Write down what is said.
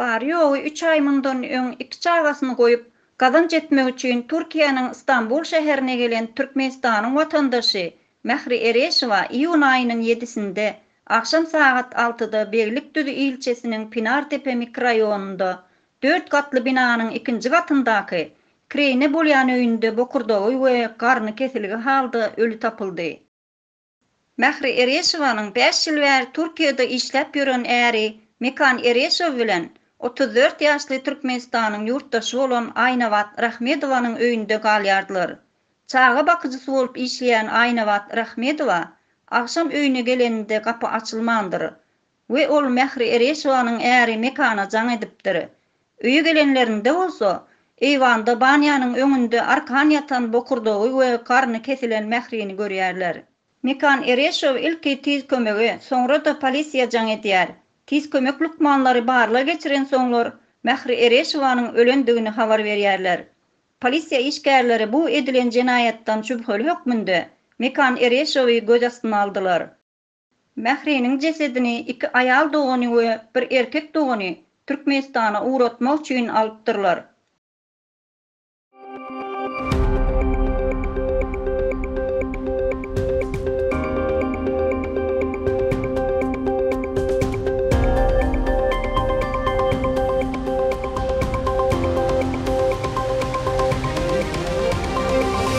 Bary-ýogy üç aý mundan öň iki çagasyny goýup, gazanç etmek üçin Türkiýäniň Stambul şäherine gelen Türkmenistanyň watandaşy Mähri Ereşowa iýun aýynyň ýedisinde agşam sagat altyda Beglikdüzi ilçesiniň Pinartepe mikroraýonynda dört gatly binanyň ikinji gatyndaky kireýine bolýan öýünde bokurdagy we garny kesilgi halda öli tapyldy. Mähri Ereşowanyň bäş ýyl bäri Türkiýede işläp ýören äri Mekan Ereşow bilen otuz dört ýaşly Türkmenistanyň ýurtdaşy bolan Aýnabat Rahmedowanyň öýünde galýardylar. Çaga bakyjysy bolup işleýän Aýnabat Rahmedowa agşam öýüne geleninde gapy açylmandyr. We ol Mähri Ereşowanyň äri Mekana jaň edipdir. Öýe gelenlerinde bolsa, eýwanda banýanyň öňünde arkan ýatan bokurdagy we garny kesilen Mährini görýärler. Mekan Ereşow ilki tiz kömege, soňra-da polisiýa jaň edýär. Tiz kömek lukmanlary barlag geçirensoňlar, Mähri Ereşowanyň ölendigini habar berýärler. Polisiýa işgärleri bu edilen jenaýatdan şübheli hökmünde Mekan Ereşowy göz astyna aldylar. Mähriniň jesedini iki aýal dogany we bir erkek dogany Türkmenistana ugratmak üçin alypdyrlar.